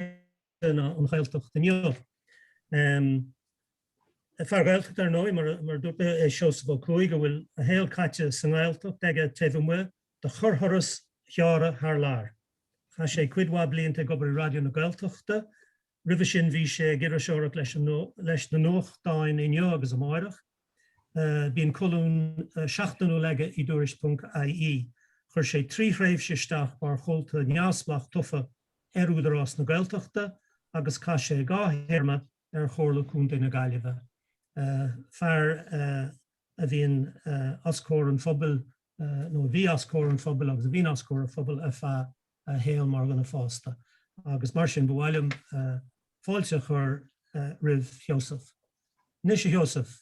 Gaeilge ná an Ghaeltacht inniu. Fear Gaeltachta, ar ndóigh, mar a dúirt mé, é Seosamh Ó Cuaig a bhfuil a shaol caite sa nGaeltacht aige taobh amuigh de chorrthuras gearra thar lear. Chaith sé cuid mhaith blianta ag obair i Raidió na Gaeltachta, roimhe sin bhí sé ag iriseoireacht leis na nuachtáin Inniu agus Amárach. Bíonn colún seachtainiúil aige i dTuairisc. IE. Chuir sé trí thréimhse isteach mar chomhalta neamhspleách tofa ar Údarás na Gaeltachta agus chaith sé dhá théarma ar Chomhairle Contae na Gaillimhe. Fear a bhíonn os comhair an phobail, nó a bhí os comhair an phobail agus a bhíonn os comhair an phobail ar feadh a shaoil mar dhuine fásta agus mar sin ba mhaith liom fáilte a chur roimh Sheosamh. Anois a Sheosaimh.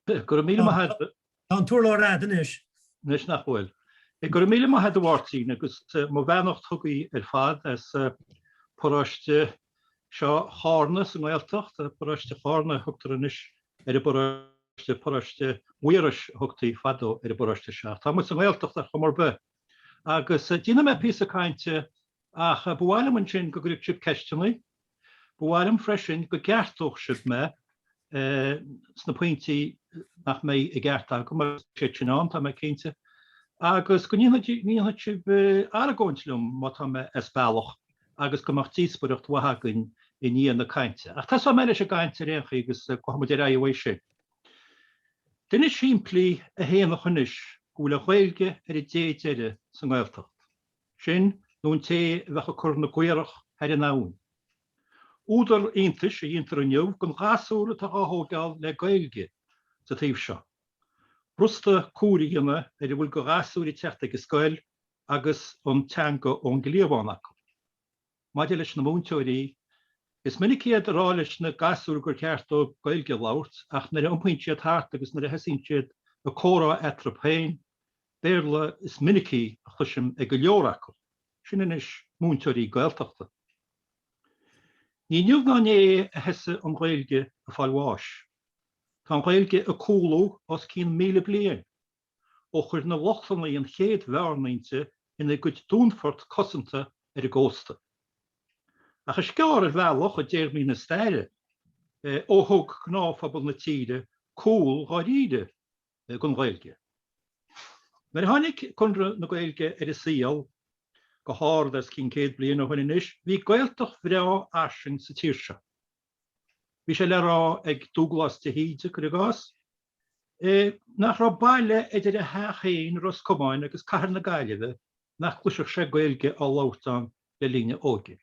Go raibh míle maith agat. Tá an t-urlár a'd anois. Anois nach bhfuil. Go raibh míle maith agat a Mháirtín agus mo bheannacht chugaibh ar fad as paróiste seo Chárna sa nGaeltacht, paróiste Chárna a thugtar anois ar an bparóiste, paróiste Mhaírois a thugtaí fadó ar an bparóiste seo. Tá muid sa nGaeltacht ar chuma ar bith. Agus déanfaidh mé píosa cainte Ach ba mhaith liom ansin go gcuirfeadh sibh ceisteanna. Ba mhaith liom freisin go gceartódh sibh mé sna pointí nach mbeidh i gceart agam, agus beidh siad sin ann, tá mé cinnte, agus go ndéanfaidh sibh argóint liom má tá mé as bealach, agus go mbeadh díospoireacht mhaith againn i ndiaidh na cainte. Ach tosóidh mé leis an gcaint ar aon chaoi agus gabhfaidh muid ar aghaidh uaidh sin. Duine simplí a shéanfadh anois go bhfuil an Ghaeilge ar an dé deiridh sa nGaeltacht. Sin, nó an té a bheadh ag cur na gcaorach thar an abhainn. Údar iontais a dhéantar inniu den ghasúr atá á thóigeáil le Gaeilge sa taobh seo. B'fhrusta comhaireamh a dhéanamh ar a bhfuil de ghasúir ag teacht ag an scoil agus an teanga ón gcliabhán acu. Maidir leis na múinteoirí, is minic iad ag rá leis na gasúir gur cheart dóibh Gaeilge a labhairt ach nuair a iompaíonn siad thart agus nuair a thosaíonn siad ag comhrá eatarthu féin, Béarla is minicí a chloisim ag go leor acu. Sin anois múinteoirí Gaeltachta! Ní inniu ná inné a thosaigh an Ghaeilge ag fáil bháis. Tá an Ghaeilge ag cúlú os cionn míle bliain. ó chuir na Lochlannaigh an chéad bheárnaínte ina cuid dúnfort cosanta ar an gcósta. Ach is gearr ar bhealach, i dtéarmaí na staire, ó thug gnáthphobal na tíre cúl dháiríre don Ghaeilge. Nuair a tháinig Conradh na Gaeilge ar an saol, go hard os cionn céad bliain ó shoin anois, bhí Gaeltacht bhreá fhairsing sa tír seo. Bhí sé le rá ag Dúglás de hÍde, cuir i gcás, nach raibh baile idir a theach féin, Ros Comáin, agus cathair na Gaillimhe nach gcloisfeadh sé Gaeilge á labhairt ann le linn a óige.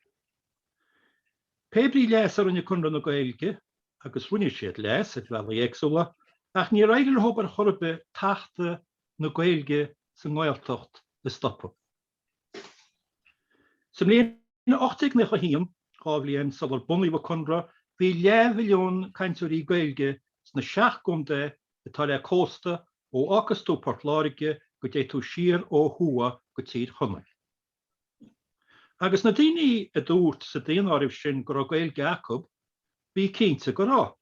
Pé brí leas a rinne Conradh na Gaeilge, agus rinne siad leas ar bhealaí éagsúla, ach níor éirigh leo ar chor ar bith tachtadh na Gaeilge sa nGaeltacht a stopadh. Sa mbliain 1891, dhá bhliain sular bunaíodh an Conradh, bhí leathmhilliún cainteoirí Gaeilge sna seacht gcontae atá le cósta ó fhágfas tú Port Láirge go dté tú siar ó thuaidh go Tír Chonaill. Agus na daoine a dúirt sa daonáireamh sin go raibh Gaeilge acu, bí cinnte go raibh.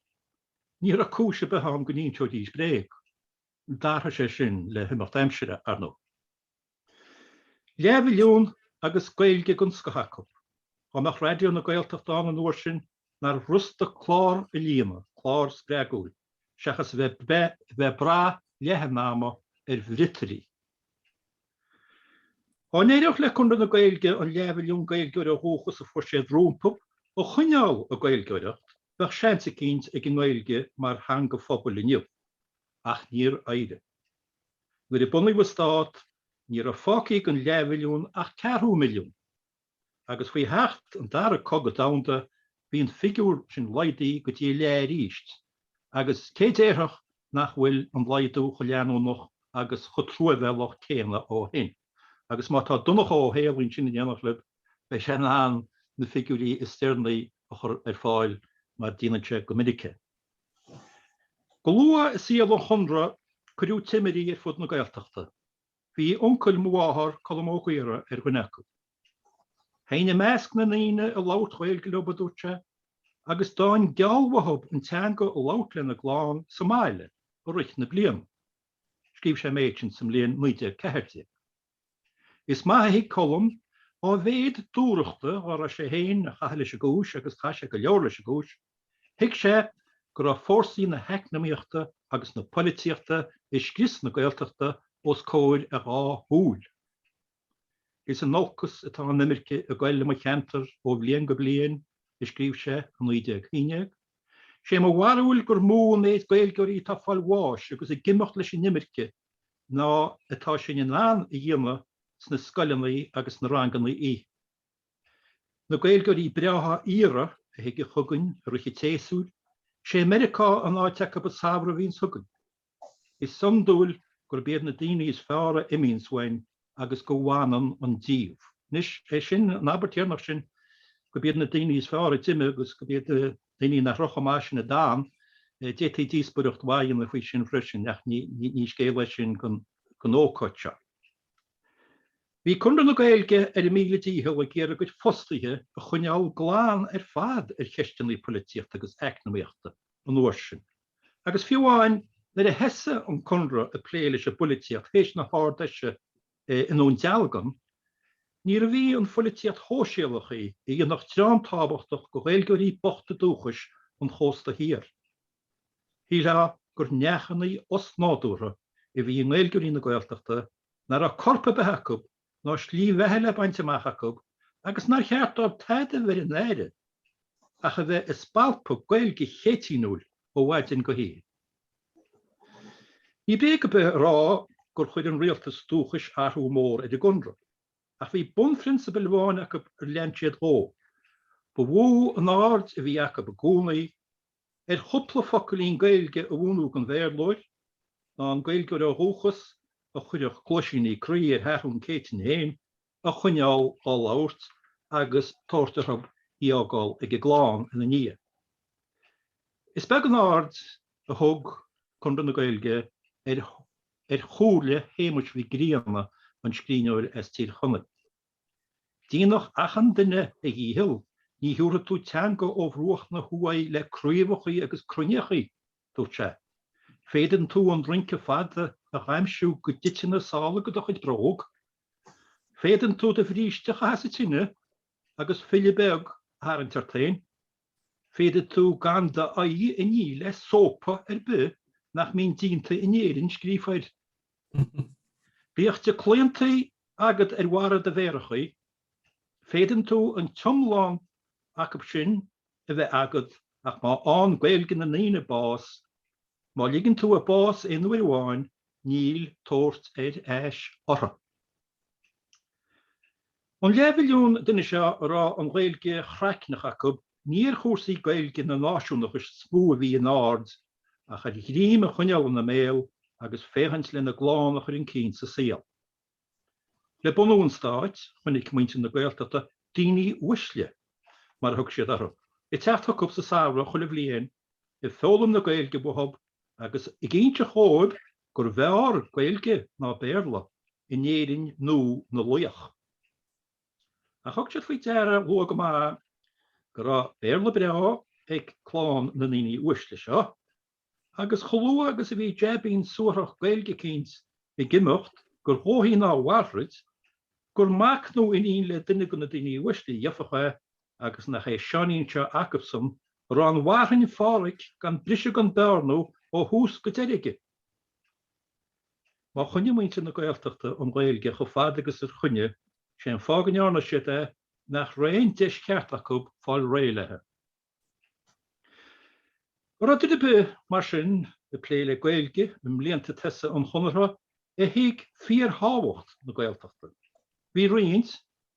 Ní raibh cúis ar bith ann go n-inseoidís bréag. D'athraigh sé sin le himeacht aimsire, ar ndóigh. Leathmhilliún agus Gaeilge den scoth acu. Dá mbeadh Raidió na Gaeltachta ann an uair sin, nár fhrusta clár a líonadh, clár spreagúil, seachas a bheith bheith ag brath leath an ama ar bhriotairí. Dá n-éireodh le Conradh na Gaeilge an leathmhilliún Gaeilgeoir ó dhúchas a fuair siad rompu a choinneáil ag Gaeilgeoireacht, bheadh seans eicínt ag an nGaeilge mar theanga phobail inniu. Ach níor éirigh. Nuair a bunaíodh an stát, ní raibh fágtha den leathmhilliún ach ceathrú milliún, agus faoi theacht an Dara Cogadh Domhanda bhí an figiúr sin laghdaithe go dtí a leath arís, agus cé déarfadh nach bhfuil an laghdú chomh leanúnach agus chomh truamhéalach céanna ó shin? Agus má tá Donncha Ó hÉallaithe ansin in éineacht libh, beidh sé in ann na figiúirí is deireanaí a chur ar fáil, mar déanann sé go minic é. Go luath i saol an Chonradh cuireadh timirí ar fud na Gaeltachta. Bhí uncail mo mháthar, Colm Ó Gaora, ar dhuine acu. Théinn i measc na ndaoine ag labhairt Ghaeilge leo, a dúirt sé, agus d'fhaighinn gealladh uathu an teanga a labhairt lena gclann sa mbaile i rith na bliana. Scríobh sé an méid sin sa mbliain 1914. Is maith a thuig Colm, dá mhéad dúthrachta dhá raibh sé féin a chaitheamh leis an gcúis agus chaith sé go leor leis an gcúis, thuig sé go raibh fórsaí na heacnamaíochta agus na polaitíochta ag scrios na Gaeltachta os comhair a dhá shúil. Is in olcas atá an imirce ag goil i mo cheantar ó bhliain go bliain, a scríobh sé i 1911. Sé mo bharúil gur mó an méid Gaeilgeoirí atá ag fáil bháis agus ag imeacht leis an imirce ná atá sinn in ann a dhéanamh sna scoileannaí agus sna rangannaí. Na Gaeilgeoirí breátha aoire a thigeadh chugainn i rith an tséasúir, is é Meiriceá an áit acu an samhradh a bhíonns chugainn. Is iondúil gurb iad na daoine is fearr a imíonns uainn agus go bhfanann an díogha. Anois, é sin, an abairt dheireanach sin, go b'iad na daoiní is fearr a d'imigh agus go b'iad daoiní nach raibh chomh maith sin a d'fhan, d'fhéadfaí díospóireacht mhaith a dhéanamh faoi sin freisin, ach ní scéal é sin don ócáid seo. Bhí Conradh na Gaeilge ar a míle dícheall ag iarraidh a gcuid fostaithe a choinneáil glan ar fad ar cheisteanna polaitíochta agus eacnamaíochta an uair sin. agus fiú amháin nuair a thosaigh an Conradh ag plé leis an bpolaitíocht théis na hArd-Fheise i nDún Dealgan, níorbh í an pholaitíocht shóisialach í a dhéanfadh dream tábhachtach de Ghaeilgeoirí bochta dúchais an chósta thiar. Shílfeá gur neachannaí osnádúrtha a bhí i nGaeilgeoirí na Gaeltachta nach raibh corp ar bith acu ná slí bheatha le baint amach acu agus nár cheart dóibh tada a bheith ar a n-aire ach a bheith ag spalpadh Gaeilge Chéitinniúil ó mhaidin go hoíche. Ní bréag ar bith a rá gur chuir an Rialtas Dúchais athrú mór ar an gConradh, ach bhí bunphrionsabal amháin acu ar lean siad dhó, ba mhó an aird a bhí acu i gcónaí, ar chúpla focailín Gaeilge a mhúineadh don Bhéarlóir, ná an Gaeilgeoir ó dhúchas, a chuirfeadh cluaisíní croí ar Sheathrún Céitinn féin, a choinneáil á labhairt agus tabhairt orthu í fhágáil ag a gclann ina ndiaidh. Is beag an aird a thug Conradh na Gaeilge ar chomhairle Shéamuis Mhic Grianna, an scríbhneoir as Tír Chonaill. Déanadh achan duine a dhícheall, ní thiúrfaidh tú teanga ó bhruach na huaighe le craobhachaí agus cruinneachaí, dúirt sé. Féadann tú an rince fada a dhaimhsiú go dtite na sála de do chuid bróg. Féadann tú do bhríste a chaitheamh sa tine agus filleadh beag a tharraingt ort féin. Féadann tú gan d'aghaidh a ní le sópa ar bith nach mbíonn díonta in Éirinn, scríofa air. Bíodh díochlaontaí agat ar bharra do mhéarachaí, féadann tú an t-iomlán acu sin a bheith agat ach má fhánn Gaeilge na ndaoine bás, má ligeann tú a bás aon uair amháin, níl tabhairt ar ais uirthi. An leathmhilliún duine seo a raibh an Ghaeilge chraicneach acu, ní ar chúrsaí Gaeilge ná náisiúnachais is mó a bhí a n-aird, ach ar ghrím a choinneáil ina mbéal agus féachaint lena gclann a chur chun cinn sa saol. Le bunú an Stáit, chonaic muintir na Gaeltachta 'daoine uaisle', mar a thug siad orthu, ag teacht chucu sa samhradh chuile bhliain, ag foghlaim na Gaeilge uathub agus ag inseacht dhóibh gurbh fhearr Gaeilge ná Béarla in Éirinn nua na laoch. Ach thug siad faoi deara luath go maith go raibh Béarla breá ag clann na ndaoine uaisle seo, agus chomh luath agus a bhí jaibín suarach Gaeilge eicínt ag imeacht gur dhóichí ná a mhalairt, gur mac nó iníon le duine de na daoine uaisle a gheobhadh é, agus nach é Seáinín seo acubsan a raibh an Mharthain Phádraig gan briseadh gan bearnú ó thús go deireadh aige. Má choinnigh muintir na Gaeltachta an Ghaeilge chomh fada agus a choinnigh, sé an fáth go ndearna siad é nach raibh aon deis cheart acu fáil réidh léi. An raibh duine ar bith, mar sin, ag plé le Gaeilge i mblianta tosaigh an Chonartha a thuig fíorthábhacht na Gaeltachta? Bhí roinnt.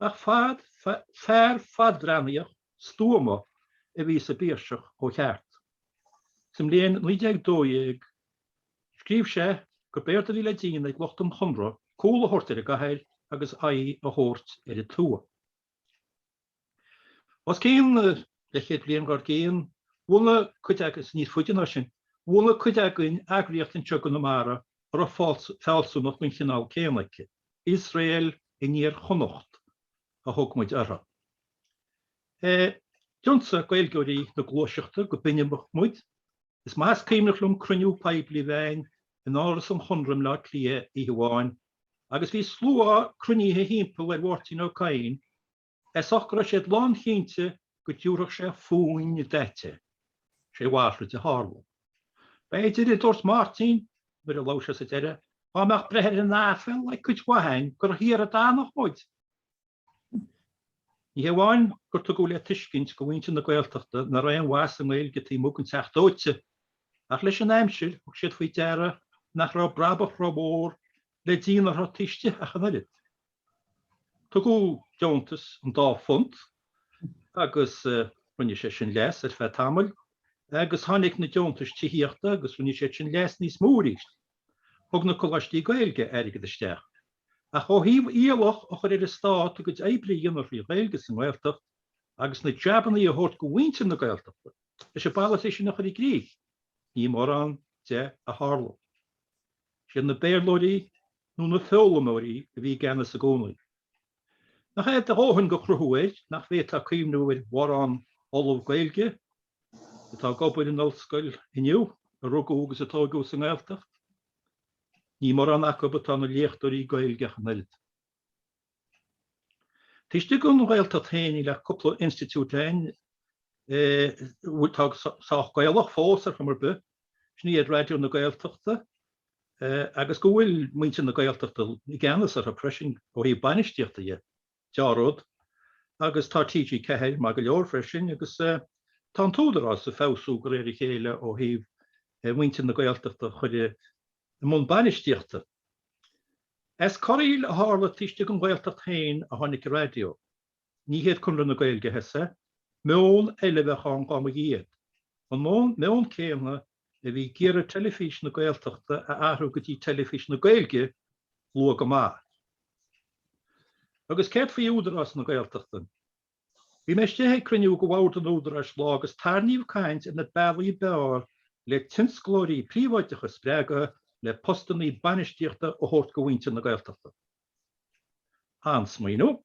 Ach fad fear fadbhreathnaíoch stuama a bhí sa bPiarsach ó cheart. Sa mbliain 1912 scríobh sé gurb éard a bhí le déanamh ag lucht an Chonradh cúl a thabhairt ar an gcathair agus aghaidh a thabhairt ar an tuath. Os cionn leathchéad bliain dár gcionn, bhunaigh cuid, agus níos faide ná sin, bhunaigh cuid againn eagraíocht anseo i gConamara a raibh fealsúnacht den chineál céanna aici. Iosrael in Iar-Chonnacht a thug muid uirthi. D'ionsaigh Gaeilgeoirí na gluaiseachta go binibeach muid. Is maith is cuimhneach liom cruinniú poiblí a bheith againn in Áras an Chonradh i mBleá Cliath oíche amháin agus bhí slua cruinnithe thimpeall ar Mháirtín Ó Cadhain, As ucht go raibh siad lánchinnte go dtiúrfadh sé fúinn d'eitil sé a mhalairt a tharla. B'fhéidir, a dúirt Máirtín nuair a labhair sé sa deireadh, dhá mbeadh breith ar an aiféal ag cuid mhaith againn gur thiar a d'fhanfadh muid! Ní hé amháin gur tugadh le tuiscint go mhuintir na Gaeltachta nach raibh aon mhaith sa nGaeilge taobh amuigh den Teach Dóite, ach leis an aimsir thug siad faoi deara nach raibh brabach rómhór le déanamh uirthi taobh istigh ach an oiread. Tugadh deontas an dá phunt agus rinne sé sin leas ar feadh tamaill agus tháinig na deontais tithíochta agus rinne sé sin leas níos mó arís. Thug na coláistí Gaeilge airgead isteach. Ach ó thaobh iallach a chur ar an stát a gcuid oibre a dhéanamh trí Ghaeilge sa nGaeltacht agus na jabannaí a thabhairt go mhuintir na Gaeltachta leis an bpolasaí sin a chur i gcrích, ní mórán de a tharla. Siad na Béarlóirí nó na foghlaimeoirí a bhí i gceannas i gcónaí. Nach é a dhóthain de chruthú air nach bhféadfá cuimhniú ar mhórán ollamh Gaeilge atá ag obair in ollscoil inniu a rugadh agus a tóigeadh sa nGaeltacht? Ní mórán acu atá ina léachtóirí Gaeilge ach an oiread. Taobh istigh den Ghaeltacht féin níl ach cúpla institiúid ann atá sách Gaelach fós ar chuma ar bith, sin iad Raidió na Gaeltachta agus go bhfuil muintir na Gaeltachta i gceannas orthu freisin ó thaobh bainistíochta dhe, dea-rud, agus tá TG4 maith go leor freisin agus tá an tÚdarás ag feabhsú de réir a chéile ó thaobh muintir na Gaeltachta a chur i i mbun bainistíochta. As corraíl a tharla taobh istigh den Ghaeltacht féin a tháinig Raidió. Ní hiad Conradh na Gaeilge a thosaigh. Meon eile a bheadh ann dá mba iad. An meon céanna a bhí ag iarraidh Teilifís na Gaeltachta a athrú go dtí Teilifís na Gaeilge luath go maith. Agus céard faoi Údarás na Gaeltachta? Bhí mé istigh ag cruinniú de Bhord an Údaráis lá agus tarraingíodh caint ar na bealaí ab fhearr le tionsclóirí príobháideacha a spreagadh le postannaí bainistíochta a thabhairt do mhuintir na Gaeltachta. An-smaoineamh.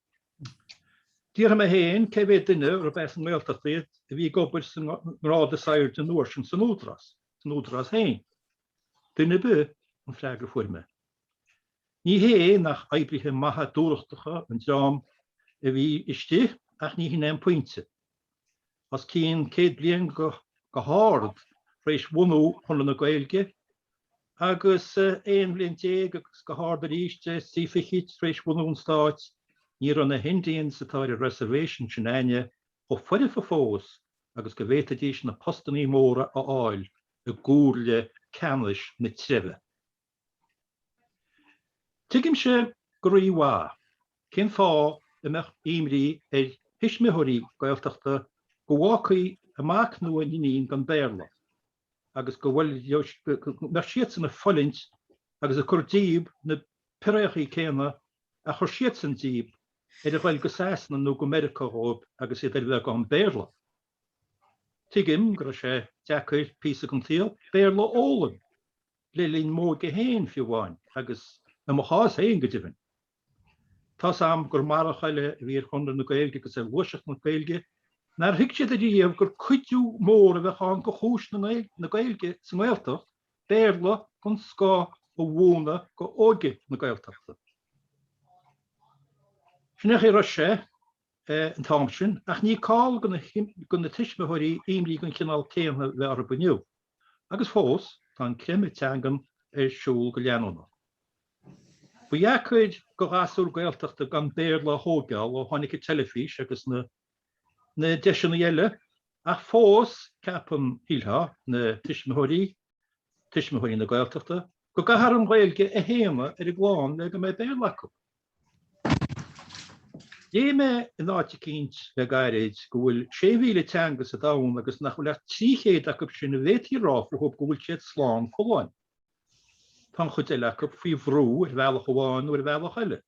D'fhiafraigh mé féin cé mhéad duine arbh as an nGaeltacht iad a bhí ag obair sa ngrád is airde an uair sin san Údarás, san Údarás féin. Duine ar bith? an freagra a fuair mé. Ní hé nach oibrithe maithe dúthrachtacha an dream a bhí istigh ach ní shin é an pointe. Os cionn céad bliain go hard tar éis bhunú Chonradh na Gaeilge agus aon bhliain déag agus go hard arís trí fichid tar éis bhunú an stáit ní raibh na hIndians atá ar an reservation sin a'inne chomh foirfe fós agus go bhféadfaidís na postannaí móra a fháil i gcomhairle ceannais na treibhe. Tuigimse go rí-mhaith cén fáth a mbeadh imní ar thuismitheoirí Gaeltachta go bhfágfaí a mac nó a n-iníon gan Béarla agus go mbeadh siadsan ag fulaingt agus ag cur díob na peiriachaí céanna a chuir siadsan díob ar a ghoil go Sasana nó go Meiriceá dhóib agus iad ar bheagán Béarla. Tuigim go raibh sé deacair píosa den tsaol Béarla a fhoghlaim, le linn m'óige féin fiú amháin, agus i mo chás féin go deimhin. Tá's a'm gur marach eile a bhí ar Chonradh na Gaeilge agus ar ghluaiseacht na Gaeilge, nár thuig siad ariamh gur cuidiú mór a bheadh ann do chúis na Gaeilge sa nGaeltacht, Béarla den scoth a mhúineadh d'óige na Gaeltachta. Sin é an chaoi a raibh sé. an t-am sin, ach ní call do na tuismitheoirí imní den chineál céanna bheith orthu inniu. Agus fós, tá an creimeadh teangan ar siúl go leanúnach. Ba dheacair do ghasúr Gaeltachta gan Béarla a thóigeáil ó tháinig an teilifís agus na deiseanna eile, ach fós, ceapann, shílfeá, na tuismitheoirí, tuismitheoirí na Gaeltachta, go gcaithfear an Ghaeilge a shéanadh ar a gclann le go mbeidh Béarla acu. Léigh mé in áit eicínt le gairid go bhfuil 6,000 teanga sa domhan agus nach bhfuil ach 300 acu sin a bhféadfaí a rá fúthu go bhfuil siad slán folláin. Tá an chuid eile acu faoi bhrú ar bhealach amháin nó ar bhealach eile,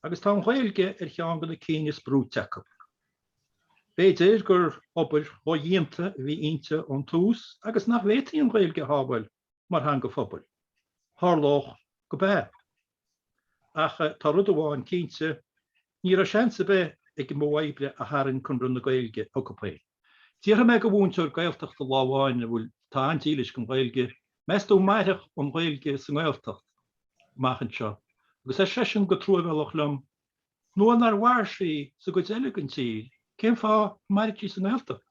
agus tá an Ghaeilge ar cheann de na cinn is brúite acu. B'fhéidir gur obair dhódhéanta a bhí inti ón tús agus nach bhféadfaí an Ghaeilge a shábháil. mar theanga phobail. Tharlódh go mb'ea. Ach tá rud amháin cinnte, ní raibh seans ar bith ag an modh oibre a tharraing Conradh na Gaeilge chucu féin. D'fhiafraigh mé de mhúinteoir Gaeltachta lá amháin a bhfuil atá an-dílis don Ghaeilge, meas tú an mairfidh an Ghaeilge sa nGaeltacht amach anseo? Agus ar seisean go truamhéalach liom, Nuair nár mhair sí sa gcuid eile den tír, cén fáth a mairfeadh sí sa nGaeltacht?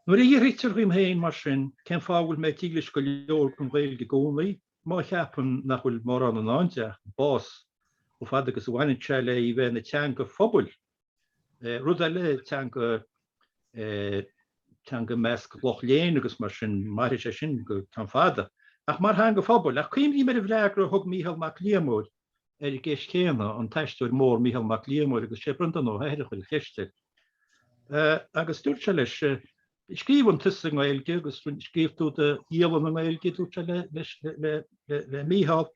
Nuair a fhiafraítear dhíom féin mar sin, cén fáth a bhfuil mé dílis go leor don Ghaeilge i gcónaí, má cheapaim nach bhfuil mórán i ndán di ach an bás, chomh fada agus a bhaineann sé le í bheith ina teanga phobail? Rud eile, teanga, teanga i measc lucht léinn agus mar sin, mairfidh sé sin go ceann fada. Ach mar theanga phobail? Ach cuimhním ar an bhfreagra a thug Mícheál Mac Liammóir, ar an gceist chéanna, an t-aisteoir mór Mícheál Mac Liammóir, agus sé Breandán Ó hEithir a chuir an cheist air. Agus dúirt sé leis, scríobhann tusa i nGaeilge agus scríobh tú do dhialann i nGaeilge, dúirt sé le Mícheál,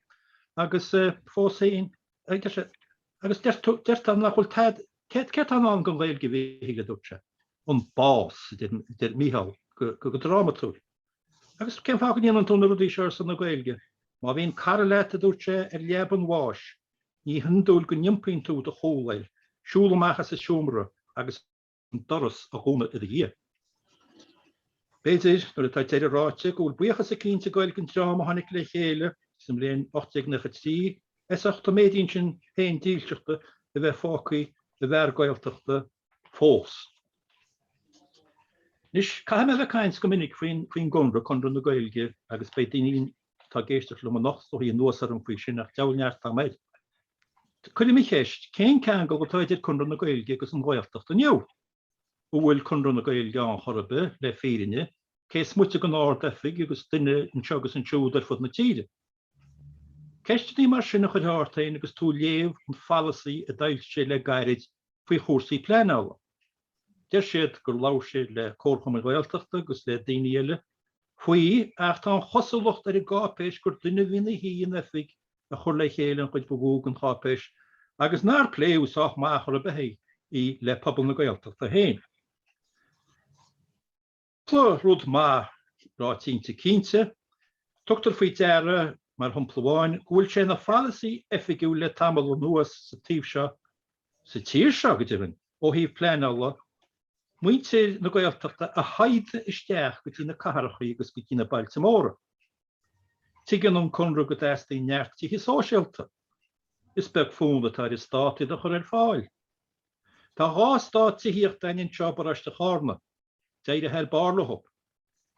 agus fós féin, agus deir tú nach bhfuil tada, céard atá i ndán don Ghaeilge, a Mhichíl, dúirt sé, an bás, a deir Mícheál go drámatúil. Agus cén fáth go ndéanann tú na rudaí seo, ar son na Gaeilge? Má bhíonn cara leat, a dúirt sé, ar leaba an bháis, ní hiondúil go n-iompaíonn tú do chúl air, siúl amach as an seomra agus an doras a dhúnadh i do dhiaidh. B'fhéidir, nuair atá deireadh ráite, go bhfuil buíochas eicínt ag goil den dream a tháinig le chéile sa mbliain 1893 as ucht an méidín sin féin dílseachta a bheith fágtha i bhfear Gaeltachta fós. Anois, caithfidh mé a bheith ag caint go minic faoin gConradh, Conradh na Gaeilge, agus beidh daoine atá ag éisteacht liom ag iarraidh a theacht anuas orm faoi sin, ach deabhail neart atá agam air. Cuirim an cheist, cén ceangal atá idir Conradh na Gaeilge agus an Ghaeltacht inniu? An bhfuil Conradh na Gaeilge ann chor ar bith, le fírinne, cé is moite den Ard-Oifig agus duine anseo agus ansiúd ar fud na tíre? Ceisteannaí mar sin a chuirfeá ort féin agus tú ag léamh an pholasaí a d'fhoilsigh siad le gairid faoi chúrsaí pleanála. Deir siad gur labhair siad le comharchumainn Ghaeltachta agus le daoine eile faoi ach tá an chosúlacht ar an gcáipéis gur duine a bhí ina shuí in oifig a chuir le chéile an chuid ba mhó den cháipéis agus nár pléadh sách maith chor ar bith í le pobal na Gaeltachta féin. Tá rud maith rá cinnte cinnte. Tugtar faoi deara, mar shompla amháin, go bhfuil sé ina pholasaí oifigiúil le tamall anuas sa taobh seo, sa tír seo, go deimhin, ó thaobh pleanála, muintir na Gaeltachta a shaighdeadh isteach go dtí na cathrachaí agus go dtí na bailte móra. Tuigeann an Conradh go dteastaíonn neart tithe sóisialta. Is beag fonn atá ar an Stát iad a chur ar fáil. Tá dhá eastát tithíochta againn anseo i bparóiste Chárna. D'éirigh thar barr leo.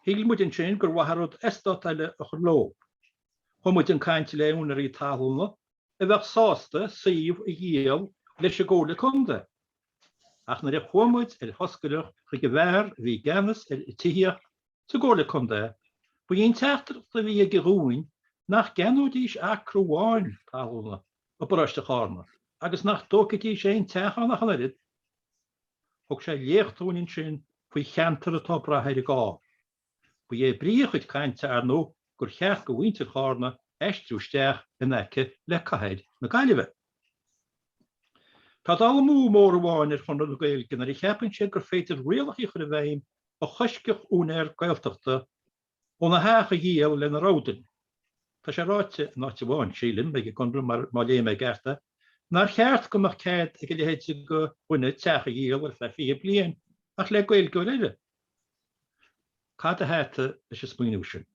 Shíl muid ansin gur mhaith an rud eastát eile a chur leo. Chuaigh muid chun cainte le úinéirí talúna a bheadh sásta suíomh a dhíol leis an gComhairle Contae. Ach nuair a chuaigh muid ar thoscaireacht chuig an bhfear a bhí i gceannas ar tithíocht sa gComhairle Contae, ba í an teachtaireacht a bhí aige dhúinn nach gceannóidís acra amháin talúna. i bparóiste Chárna, agus nach dtógfaidís aon teach ann ach an oiread. Thug sé léacht dúinn ansin faoi cheantar atá ag brath ar an gcarr. Ba é brí a chuid cainte, ar ndóigh, gur cheart do mhuintir Chárna aistriú isteach in aice le cathair na Gaillimhe. Tá dul amú mór amháin ar Chonradh na Gaeilge nuair a cheapann siad gur féidir rialachaí a chur i bhfeidhm a choiscfeadh úinéir Gaeltachta, óna theach a dhíol lena rogha duine. Tá sé ráite in áit amháin, sílim, ag an gConradh, má léigh mé i gceart é, nár cheart go mbeadh cead ag a leithéid de dhuine teach a dhíol ar feadh fiche bliain ach le Gaeilgeoir eile. Cad a thaithe leis an smaoineamh sin?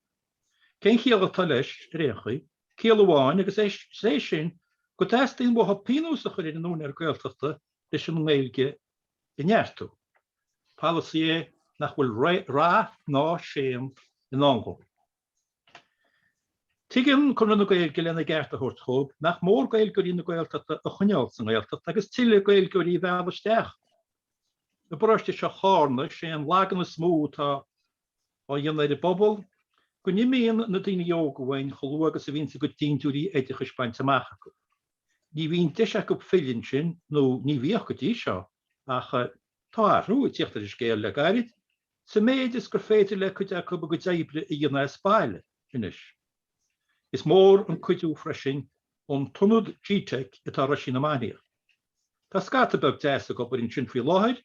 Cén chiall atá leis, ar aon chaoi? Ciall amháin, agus é sin go dteastaíonn uathu pionós a chur ar an úinéir Gaeltachta leis an nGaeilge a neartú. Polasaí é nach bhfuil rath ná séan i ndán dhó. Tuigeann Conradh na Gaeilge, lena gceart a thabhairt dhóibh, nach mór Gaeilgeoirí na Gaeltachta a choinneáil sa nGaeltacht agus tuilleadh Gaeilgeoirí a mhealladh isteach. I bparóiste seo Chárna, is é an lagan is mó atá á dhéanamh ar an bpobal go n-imíonn na daoine óga uainn chomh luath agus a bhíonns a gcuid dindiúirí oideachais bainte amach acu. Ní bhíonn deis acu filleadh ansin, nó ní bhíodh go dtí seo, ach tá athrú ag tíocht ar an scéal le gairid, sa méid is gur féidir le cuid acu a gcuid oibre a dhéanamh as baile anois. Is mór an cuidiú freisin an t-ionad G-Teic atá i Roisín na Mainiach. Tá scata beag deas ag obair ansin faoi láthair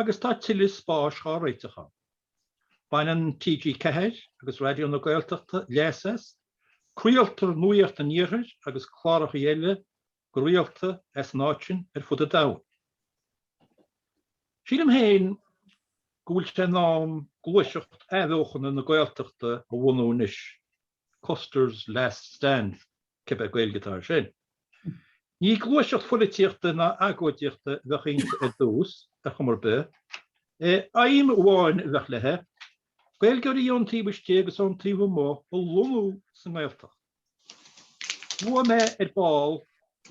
agus tá tuilleadh spáis dhá réiteach ann. Baineann TG4 agus Raidió na Gaeltachta leas as, craoltar nuaíocht an Iarthair agus clárachaí eile go rialta as an áit sin ar fud an domhain. Sílim féin go bhfuil sé in am gluaiseacht athbheochana na Gaeltachta a bhunú anois. Custer's Last Stand, cibé Gaeilge atá air sin. Ní gluaiseacht pholaitíochta ná agóidíochta a bheadh inti ar dtús, ar chuma ar bith. Aidhm amháin a bheadh leithe, Gaeilgeoirí ón taobh istigh agus ón taobh amuigh a lonnú sa nGaeltacht. Luaigh mé ar ball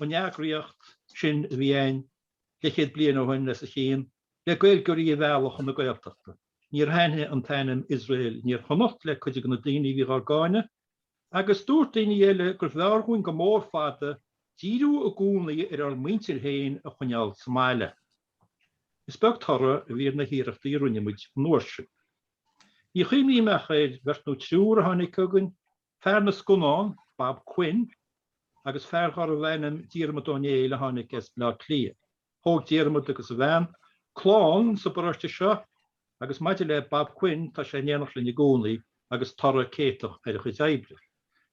an eagraíocht sin a bhí ann leithchéad bliain ó shin, leis an gceann, le Gaeilgeoirí a mhealladh chun na Gaeltachta. Níor thaitnigh an t-ainm Iosrael in Iarchonnacht le cuid de na daoine a bhí dhár gcáineadh, agus dúirt daoine eile gurbh fhearr dhúinn go mór fada díriú i gcónaí ar ár muintir féin a choinneáil sa mbaile. Is beag toradh a bhí ar na hiarrachtaí a rinne muid an uair sin. Ní chuimhním ach ar bheirt nó triúr a tháinig chugainn Fear na scannán, Bob Quinn, agus fear darbh ainm Diarmaid Ó Néill a tháinig as Bleá Cliath. Thóg Diarmaid agus a bhean clann sa bparóiste seo agus maidir le Bob Quinn, tá sé in éineacht linn i gcónaí agus toradh céatach ar a chuid oibre.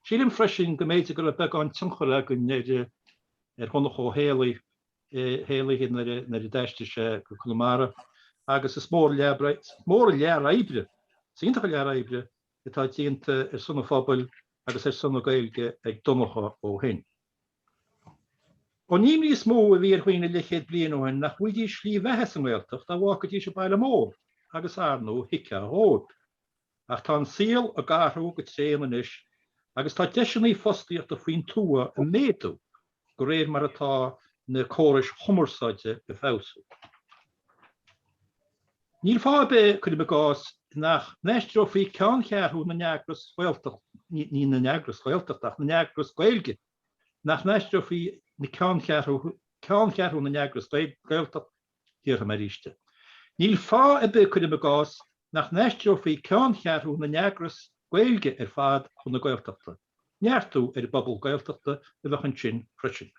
Sílim freisin go mb'fhéidir go raibh beagán tionchair againn ar Dhonncha Ó hÉallaithe nuair a d'aistrigh sé go Conamara agus is mór an lear oibre, is iontach an lear oibre, atá déanta ar son an phobail agus ar son na Gaeilge ag Donncha ó shin. Ó, an imní is mó a bhí ar dhaoine leithchéad bliain ó shin nach bhfaighidís slí bheatha sa nGaeltacht dá bhfágfaidís an baile mór agus arnú thuigfeá dhóibh. Ach tá an saol ag athrú go tréan anois agus tá deiseanna fostaíochta faoin tuath ag méadú. de réir mar atá na córais chumarsáide ag feabhsú. Níl fáth ar bith, cuirim i gcás, nach n-aistreofaí ceanncheathrú na n-eagras Gaeltachta, ní na n-eagras Gaeltachta ach na n-eagras Gaeilge, nach n-aistreofaí ceanncheathrú na n-eagras Gaeltachta, déarfaidh mé arís é, níl fáth ar bith, cuirim i gcás, nach n-aistreofaí ceanncheathrú na n-eagras Gaeilge ar fad chun na Gaeltachta. Neartú ar an bpobal Gaeltachta a bheadh ansin freisin.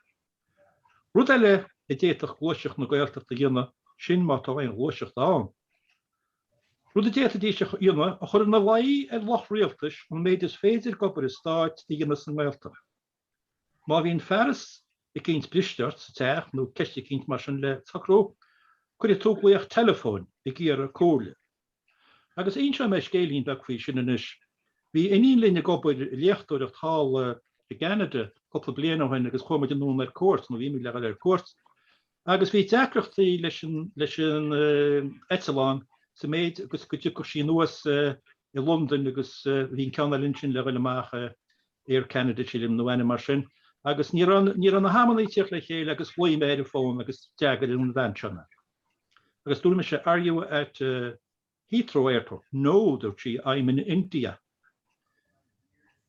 Rud eile a d'fhéadfadh gluaiseacht na Gaeltachta a dhéanamh, sin má tá aon ghluaiseacht ann, rud a d'fhéadfaidís a dhéanamh, a chur ina luí ar lucht rialtais an méid is féidir d'obair an stáit a dhéanamh sa nGaeltacht. Má bhíonn fearas eicínt briste ort sa teach nó ceist eicínt mar sin le socrú, cuirfidh tú glaoch teileafóin ag iarraidh comhairle. Agus inseoidh mé scéilín beag faoi sin anois. Bhí iníon linn ag obair ag léachtóireacht thall i gCanada cúpla bliain ó shin agus chuaigh muid anonn ar cuairt, nó bhí muid, le dhul ar cuairt. Agus bhí deacrachtaí leis an, leis an eitleán, sa méid agus go dtiocfadh sí anuas i Londain agus bhí an ceann eile ansin le dhul amach, Air Canada sílim, nó ainm mar sin. Agus ní raibh, ní raibh na hamannaí ag tíocht le chéile agus ghlaoigh mé ar an bhfón agus d'fhreagair an bhean seo mé. Agus dúirt mise, Are you at Heathrow Airport? No, dúirt sí, I'm in India.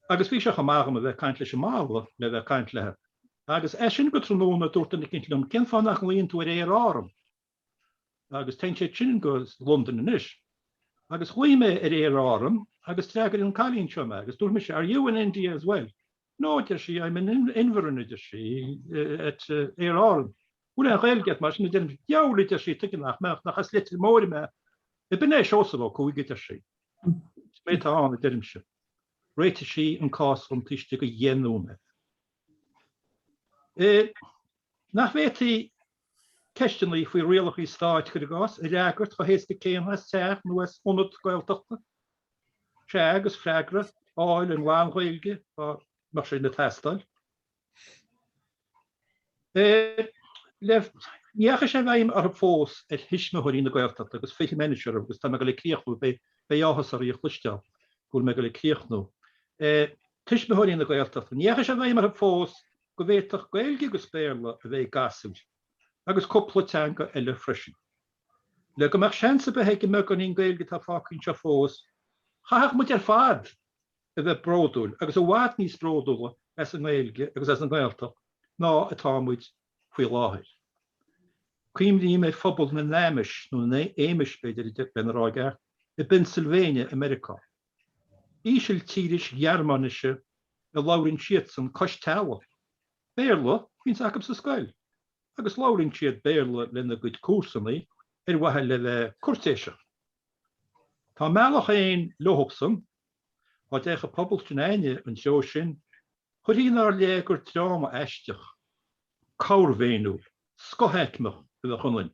Agus bhí sé chomh maith dhom a bheith ag caint leis an mballa le bheith ag caint leithe. Agus as sin go tráthnóna dúirt duine eicínt liom, Cén fáth nach nglaonn tú ar Aer Árann? Agus téann siad sin go Londain anois. Agus ghlaoigh mé ar Aer Árann agus d'fhreagair an cailín seo mé agus dúirt mise, Are you in India as well? 'No, a deir sí, 'I'm in Inverin, a deir sí, 'at Aer Árann. 'Bhfuil aon Ghaeilge agat, mar sin? a deirimse. 'Dheabhail, a deir sí, 'tuige nach mbeadh, nach as Leitir Móir mé. 'Ab in é Seosamh Ó Cuaig? a deir sí. 'Is mé atá ann, a deirimse. Réitigh sí an cás dhom taobh istigh de dheich nóiméad. Nach bhféadfaí ceisteanna faoi rialacha stáit, cuir i gcás, a fhreagairt chomh héasca céanna as teach nó as ionad Gaeltachta. Sea, agus freagra a fháil i nglan-Ghaeilge, dá mbeadh sin ag teastáil. Ar ndóigh, ní dheachaigh sé i bhfeidhm orthu fós ar thuismitheoirí na Gaeltachta agus fillfidh mé anois orthu agus tá mé ag dul ag críochnú, beidh áthas oraibh a chloisteáil go bhfuil mé ag dul ag críochnú. Tuismitheoirí na Gaeltachta, ní dheachaigh sé i bhfeidhm orthu fós go bhféadfadh Gaeilge agus Béarla a bheith ag gasúir agus cúpla teanga eile freisin. Le go mbeadh seans ar bith ag an mbeagáinín Gaeilge atá fágtha anseo fós, chaithfeadh muid ar fad a bheith bródúil agus i bhfad níos bródúla as an nGaeilge agus as an nGaeltacht ná atá muid faoi láthair. Cuimhním ar phobal na nAmish, nó na Amish b'fhéidir lena rá i gceart, i bPennsylvania i Meiriceá. Ísiltíris Ghearmáinise a labhraíonn siadsan cois teallaigh, Béarla a bhíonns acu sa scoil agus labhraíonn siad Béarla lena gcuid comharsanaí ar mhaithe le bheith cúirtéiseach. Tá a mbealach féin leosan. Dá dtiocfadh pobal s'againne an treo sin, chuirfí inár leith gur dream aisteach, corrmhéiniúil, scothaicmeach a bheadh ionainn.